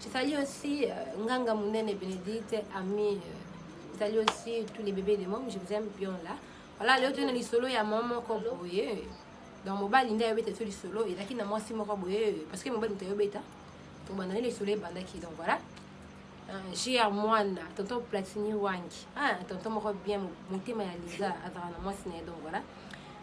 J'salue aussi euh, Nganga Munene Benedicte, Ami, euh, j'salue aussi tous les bébés des mômes, je vous aime bien là. Voilà, leo tozali na lisolo ya mama moko boye donc mobali nde ayobeta biso lisolo ezalaki na mwasi moko boye parce que mobali moto ayobeta tobanda nde lisolo ebandaki donc voilà jr mwana tonton platini wangi ah, tonton moko bien motema ya liza azalaka na mwasi na ye donc voilà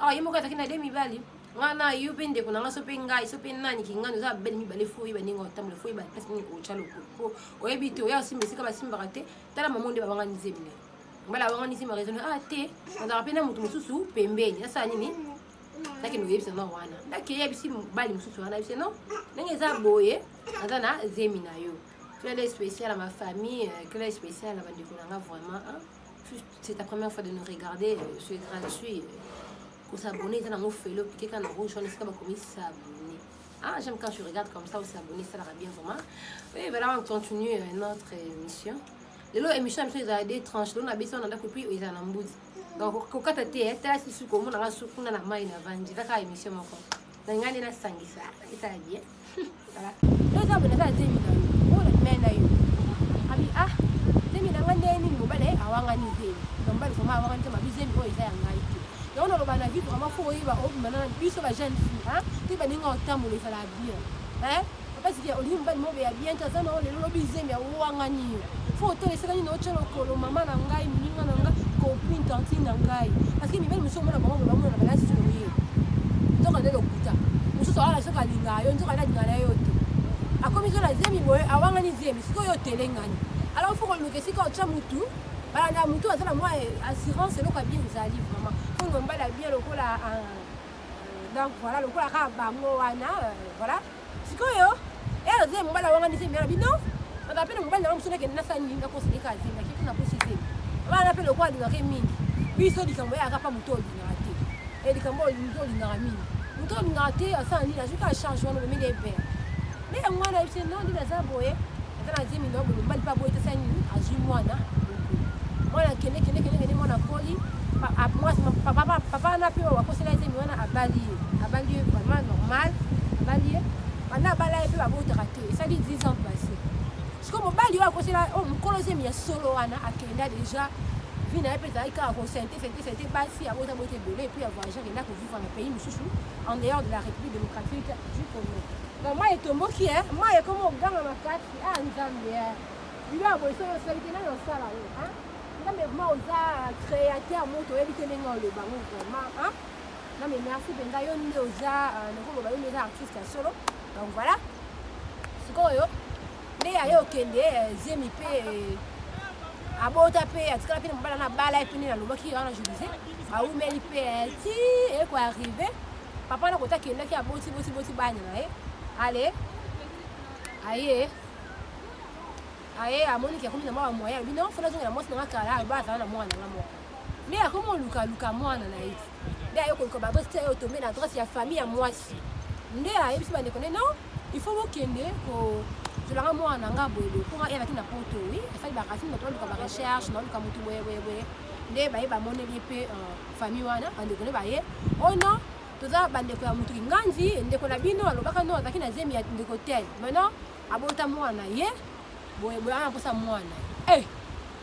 awa ye moko azalaki na de mibali nga na yo mpe ndeko na nga so mpe ngai so mpe nani kingani oza babeli mibale fo oyeba ndenge otambola fo oyeba place nini otya lokolo mpo oyebi te oya osimba esika basimbaka te tala mamo nde babangani nzembi na ye mbala abangani nzembi raisonne ah te azalaka mpe na moto mosusu pembeni asala nini nakende koyebisa na wana ndaki eyebisi mobali mosusu wana yebisi no ndenge eza boye aza na zemi na yo clele spécial ya ma famille clele spécial ya bandeko na nga vraiment c'est ta première fois de nous regarder euh, sur gratuit kosabone eza nango felo pike kaka na rouge wana esika bakomi sabone ah j'aime quand je regarde comme ça osabone esalaka bien vraiment oui voilà on continue euh, notre émission lelo émission biso ezala de tranche lelo na bisi wana ndako epuis ezala na mbuzi donc kokata te eh, tala sisuku omonaka sukuna na mai na vandi kaka émission moko na ngai nde nasangisa esala bien toza boye naza na zemi na yo oyo na mai na yo abi ah zemi na ngai nde nini mobali ye awangani zemi na mobali vraimen awangani te mabi zemi oyo eza ya ngai te yango naloba na vie vraimen fo oyeba obima na biso ba jeune fille te baninga otambola ezala bien Papa Zikia, olingi mobali moko ya bien te, aza na yo lelo lobi zemi awangani yo. Fo otala esika nini otya lokolo mama na ngai, moninga na ngai, copine, tantine na ngai. Parce que mibali mosusu omona bango bamona na balasi oye. Nzoka nde lokuta. Mosusu awala soki alingaka yo, nzoka nde alingaka na yo te. Akomi kaka na zemi boye, awangani zemi, sikoyo otelengani. Alors fo koluka esika otya mutu, balanda mutu aza na mwa assurance eloko ya bien ezali vraiment. Fo nga mobali ya bien lokola ah, donc voilà lokola kaka bango wana euh, voilà sikoyo elo zemi mobali awangani zemi yana bino baba mpe na mobali nango mosusu nakende nasala nini nakosilika zemi nake kuna kosi zemi bana mpe lokola alingaka ye mingi biso likambo yayaka mpa moto olingaka te e eh, likambo olingi olingaka mingi moto olingaka te asala nini azoki achange wana omemeli ebele nde yango wana yebisi no nini aza boye ata na zemi nao boye mobali mpe aboyi tesa nini azwi mwana mwana akende kende kende kende mwana akoli papa wana mpe akosela ye zemi wana abali ye abali ye vraiment normal abali ye banda abala ye mpe babotaka te esali 10 ans passé sikoyo mobali oyo akosela oyo oh, mokolo zemi ya solo wana akenda déjà vie na ye mpe ezalaki kaka kosente sente sente basi abota bota ebele epuis ya voyage akenda kovivre na pays mosusu en dehors de la république démocratique du congo Na mayi etomboki eh, mayi ekoma oganga makasi ah nzambe eh. Bilo ya boye soki osali te nani osala yo eh. Nzambe vraiment oza créateur moto oyebi te ndenge oloba ngo vraiment eh. Non mais merci mpenza yo nde oza euh, nakoloba yo nde oza artiste ya solo donc voilà sikoyo nde yaye okende euh, zemi mpe euh, abota mpe atikala mpe na mobala na bala ye mpe nde nalobaki wana je disais baumeli mpe ti ekoarrive papa wana kota akendaki aboti boti boti bana na ye ale aye aye amoni ke akomi na mwa bamoyen alobi non fona azongela mwasi nanga kala aloba azala na mwana nanga moko nde akomi olukaluka mwana na ye nde aye koluka baadresse te aye otombe na adresse ya famille ya mwasi nde ayebisi bandeko nde non il faut bokende tolanga mwana na nga boye boye mpo nga eyalaki na poto wi asali baracine bato baluka barecherche naoluka motu boye boye boye nde baye bamoneli ye mpe euh, famille wana bandeko ne baye oh non toza bandeko ya motuki nganzi ndeko na bino alobaka no azalaki na zemi ya ndeko tel maintenant abota mwana ye boye boye ana mposa mwana e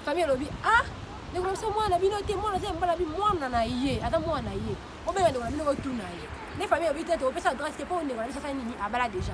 famille alobi ah ndeko na biso mwana bino te mwana aza mbala bi mwana na ye aza mwana ye obenga ndeko na bino otuna ye nde famille alobi te tokopesa adresse te mpo ndeko na biso asali nini abala deja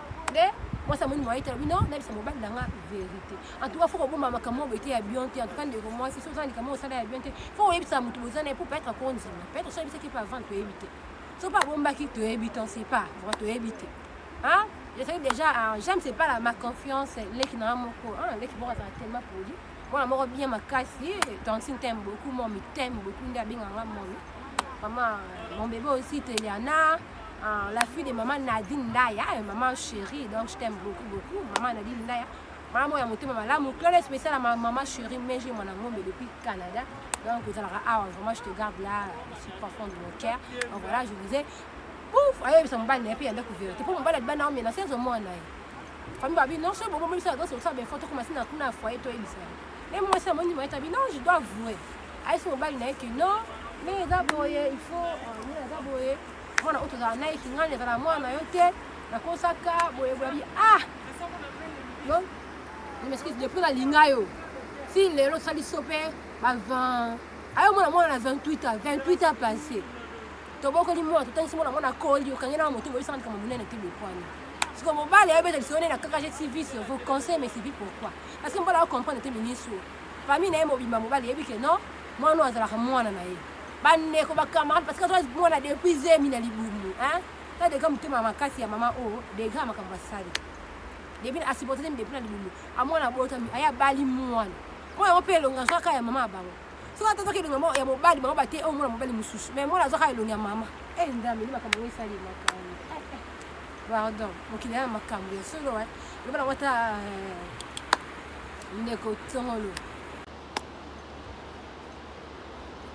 nde mwasi amoni mwaye te alobi no nayebisa mobali na nga verité en tout cas fo kobomba makambo oyo ete ya bien te en tout cas ndeko mwasi soki oza na likambo osala ya bien te fo koyebisa moto boza na ye mpo peut-être akondima peut-être so ayebisaki mpe avant toyebi te so mpe abombaki toyebi te on sait pas vraiment toyebi te hein je sais déjà hein, j'aime c'est pas la ma confiance leki na nga moko hein, leki moko azala tellement poli mwana moko bien makasi tantine t'aime beaucoup momi t'aime beaucoup nde abenga nga momi mama mon bébé aussi teliana euh, la fille de mama nadine ndaya eh, mama chérie donc je t'aime beaucoup beaucoup mama nadine ndaya mama moko ya motema malamu clone spécial ya mama chérie mais je mwana ngombe depuis canada donc ozalaka awa vraiment je te garde là si profond de mon cœur donc voilà je vous ai ouf ayebisa mobali na ye mpe yanda kovera te mpo mobali adibana omena se ezomona ye Famille babi non soki bobomi biso azo sosa befo tokoma si na kuna ya foyer toyebisa ye ye mwasi amoni moye tabi non je dois avouer ayesi mobali na ye ke non nde eza boye il faut nde euh, eza boye mwana oyo tozala naye kingani ezala mwana na yo te nakosaka boye boyabi ah yo je m'excuse depuis nalinga yo si lelo osali so mpe ba 20 ayo mwana mwana na 28 ans 28 ans passé tobokoli mwana totangisi mwana mwana akoli okangi na moto boyisaka likambo monene te bokwani siko mobali ayebeta lisolo nde na kakaje tv sur vos conseils mais c'est pourquoi parce que mobali acomprendre te ministre oyo famille na ye mobimba mobali yebi ke non mwana oyo azalaka mwana na ye bandeko bacamarade parce que azwa mwana depuis zemi na libumu ta degra motema makasi ya mama oyo oh, degra makambo asali depuis asupporte temi depuis na libumu amwana abotami aye abali mwana mwana yango mpe elonga azwaka ya mama ya bango soki ata azwaka elonga ya mobali bango bate oyo oh, mwana mobali mosusu mais mwana azwaka elonga ya mama e nzambe nde makambo yango esali makambo Pardon, mokili ya makambo ya solo eh. Loba nango ata eh, ndeko Tsongolo.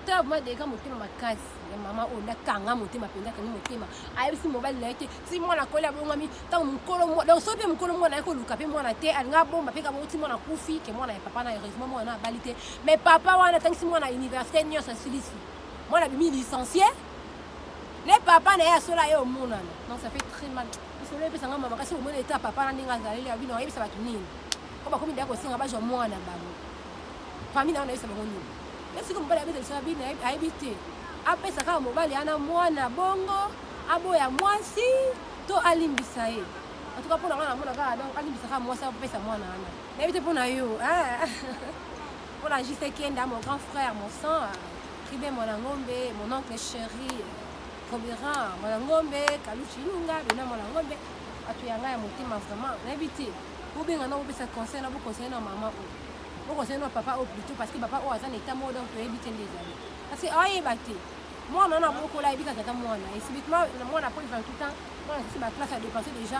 Tab ma deka motema makasi ya mama oyo nakanga motema mpenza akangi motema ayebisi mobali na ye te ti mwana akoli abongami ntango mokolo mwa donc soki mpe mokolo mwana aye koluka mpe mwana te alinga abomba mpe kabongo ti mwana akufi ke mwana ya papa na heureusement mwana abali te mais papa wana atangisi mwana université nyonso asilisi mwana abimi licencie le papa na ye asola ye omonana non ça fait très mal lisolo epesa nga mama kasi omona eta papa na ndenge azaleli ya bino ayebisa bato nini po bakomi ndaya kosenga bazwa mwana na bango famille na yo nayebisa bango nini ye soki mobali abeta lisolo ya bino ayebi te apesa kaka mobali ana mwana bongo aboya mwasi to alimbisa ye en tout cas mpona nga namona kaka donc alimbisa kaka mwasi apesa mwana wana nayebi te mpo na yo mpo na jise kenda mon grand frère mon sang Kibe mwana ngombe, mon oncle chéri, Kobera mwana ngombe, Kaluchi Ilunga, Bena mwana ngombe, bato ya ngai ya motema vraiment nayebi te bobenga na bopesa conseil na boconseille na mama oyo boconseille na papa oyo plutôt parce que papa oyo aza na etat moko donc toyebi te nde ezali parce que ayeba te mwana wana abokola ayebi kaka ata mwana esibitement mwana po 28 ans mwana sisi baklasse ya dépense déjà